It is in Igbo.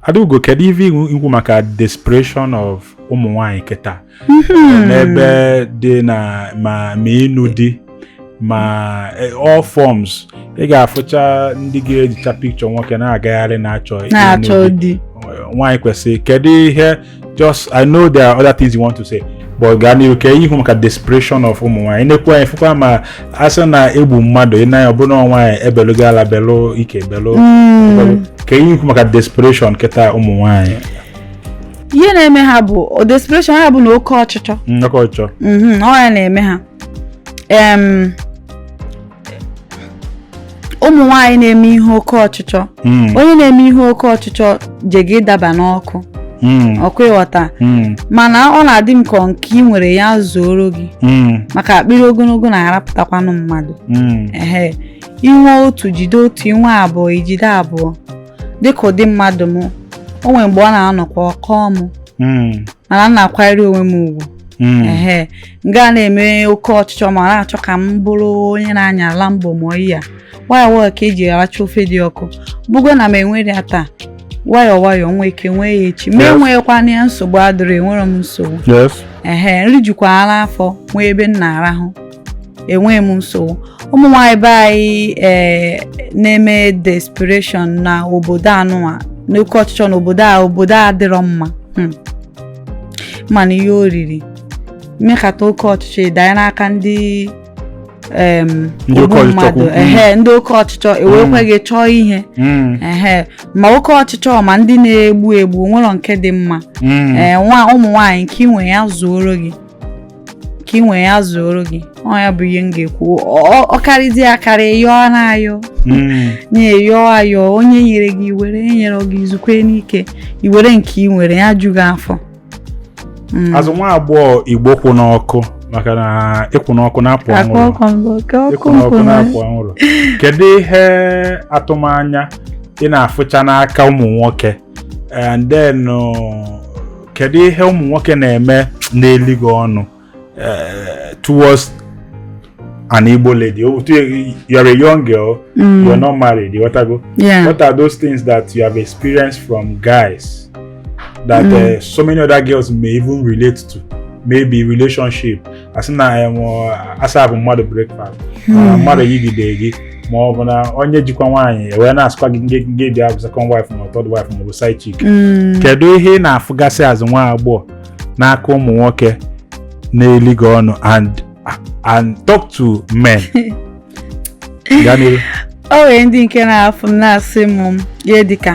Adaugo kedu ife ikwu maka desperation of ụmụ nwanyị kịta hmm. n'ebe di nọ ma ma ịnụ di ma e, all forms ị ga-afụcha ndị ga-ejicha picture nwoke na-agagharị na-achọ nwaanyị kwesịrị kedu ihe just i know there are other things you want to say but gaa n'ihu ka i kwu maka desperation of ụmụ nwaanyị nekwa anyị fụkwa ma a sị na egbu mmadụ i nee anya ọ bụ na nwaanyị ebelugo ala belu ike belu hmm. ka i kwu maka desperation kịta ụmụ nwaanyị ihe na-eme ha bụ desperation ha bụ na oke ọchịchọ hmm, oke ọchịchọ hmm, ọ ya na-eme ha ụmụ nwaanyị na-eme ihe oke ọchịchọ hmm. onye na-eme ihe oke ọchịchọ jega ịdaba n'ọkụ hmm. ọkwa ị ghọta hmm. mana ọ na-adị m ka nke ị nwere ya zuoro gị maka akpịrị ogologo na-arapụtakwanụ mmadụ ehe inwe otu jide otu inwe abụọ ijide abụọ dịka ụdị mmadụ m o nwere mgbe ọ na-anọkwa ọ kọọ m mana m na-akwanyere onwe m ugwu ehe m gaa na-eme oke ọchịchọ ma na-achọ ka m bụrụ onye na-anya Lambo mụọ ihe a nwayọọ nwayọọ ka eji aracha ofe dị ọkụ bụgo na m enwerọ ya taa nwayọọ nwayọọ nwee ike nwee ya echi ma enweghịkwana ya nsogbu adịrọ enwerọ m nsogbu ehe m rijukwaara afọ nwee ebe m na-arahụ enweghị m nsogbu ụmụ nwaanyị be anyị ee na-eme desperation na obodo anụwa n'oke ọchịchọ na obodo a obodo a adịrọ mma hmm. mana ihe oriri mekata oke ọchịchọ ịdanye n'aka ndị em, ndị ogbu mmadụ ehe ndị oke ọchịchọ ewekwe gị chọọ ihe Mm, ehe ma oke ọchịchọ ma ndị na-egbu egbu nwere nke dị mma mm. ee nwa ụmụ nwaanyị nke inwe ya zuoro gị nke inwe ya zuoro gị ọ ya bụ ihe m ga-ekwu Ọ- ọ karịzie akarị yọọ na ayọ Mm. na ị yọọ ayọ onye nyere gị iwere enyerọ gị izukwenụ ike iwere nke ị nwere ya ju gị afọ Mm. as nwa agbọghọ Igbo kwụ n'ọkụ maka na ịkwụ n'ọkụ na-apụ Akwa anwụrụ ọkụ mbụ, oke ọkụ ịkwụ n'ọkụ nkwụ na- na-apụ anwụrụ kedu ihe atụmanya ị na-afụcha n'aka ụmụ nwoke and then uh, kedu ihe ụmụ nwoke na-eme na-eli gị ọnụ uh, towards an Igbo lady. Oh, you're a young girl, mm. you're not married, ị ghọtago? Yeah. what are those things that you have experienced from guys that mm. uh, so many other girls may even relate to? Maybe relationship. As in, I am, uh, a serve mmadụ breakfast, mm. uh, mmadụ yigide gị. ma ọ bụ na onye jikwa nwaanyị ewee na-asịkwa gị ngị ngị bịa bụ second wife ma third wife ma ọ bụ side chick kedu ihe ị na-afụgasị as nwa agbọghọ n'aka ụmụ nwoke na-eli gị ọnụ and and talk to men gaa n'ihu o nwere ndị nke na-afụ m na-asị m ihe dịka